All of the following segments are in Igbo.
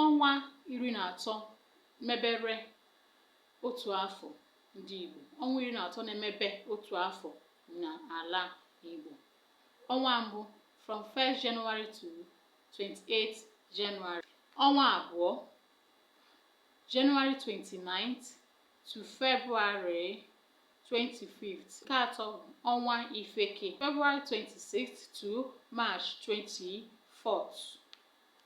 Ọnwa iri na atọ mebere otu afọ ndị Igbo. Ọnwa iri na atọ na-emebe otu afọ n'ala Igbo. Ọnwa mbụ from 1st January to 28th January. Ọnwa abụọ January 29th to February 25th. Nke atọ ọnwa Ife Eke February 26th to March 24th.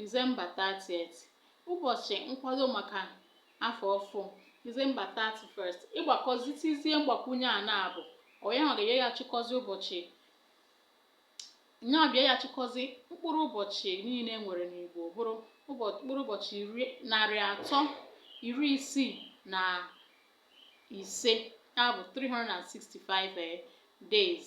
December 30th, ụbọchị nkwado maka afọ ọfụụ, December 31st, ị gbakọzitizie mgbakwunye a na-abụ ọ yanwa ga-enye ya chịkọzi ụbọchị nyaa bịa ya chịkọzi mkpụrụ ụbọchị niile e nwere n'Igbo bụrụ mkpụrụ ụbọchị iri narị atọ iri isii na ise ya bụ 365 eh, days